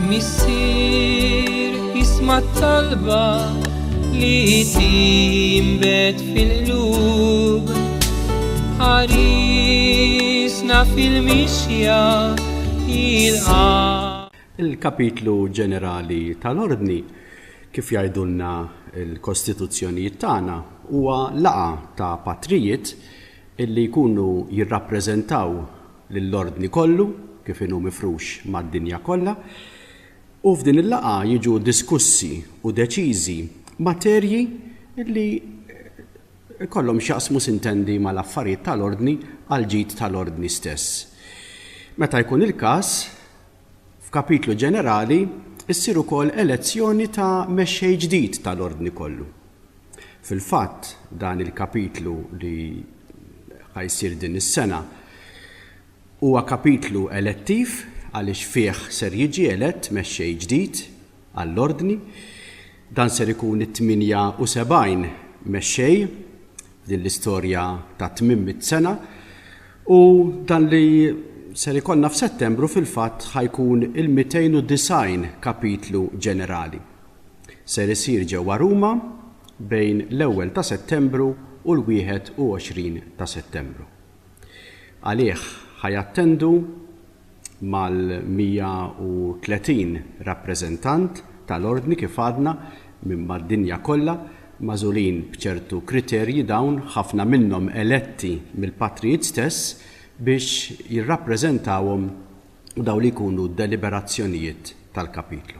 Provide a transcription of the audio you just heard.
Missier, isma' t-talba li tinbet fil-qlub. Ħarisna fil-mixja il-qalb. Il-kapitlu ġenerali tal-Ordni, kif jgħidulna l-kostituzzjonijiet tagħna, huwa laqgħa ta' patrijiet li jkunu jirrappreżentaw lill-ordni kollu kif inhu mifrux mad-dinja kollha u f'din il-laqgħa jiġu diskussi u deċiżi materji li jkollhom x'jaqsmu sintendi mal-affarijiet tal-ordni għall-ġid tal-ordni stess. Meta jkun il-każ, F'kapitlu ġenerali ssir ukoll elezzjoni ta' mexxej ġdid tal-Ordni kollu. Fil-fatt, dan il-kapitlu li ħa jsir din is-sena huwa kapitlu elettiv għaliex fih ser jiġi elett mexxej ġdid għall-Ordni. Dan ser ikun it-78 mexxej din l-istorja ta' tmim mit-sena u dan li ser ikollna f'Settembru fil-fatt ħajkun il-290 kapitlu ġenerali. Ser isir ġewwa Ruma bejn l-ewwel ta' Settembru u l-21 ta' Settembru. Għalih ħajattendu mal-130 rappreżentant tal-Ordni kif għadna minn mad-dinja kollha, magħżulin b'ċertu kriterji dawn ħafna minnhom eletti mill-Patrijiet stess biex jirrappreżentawhom dawn li jkunu d-deliberazzjonijiet tal-Kapitlu.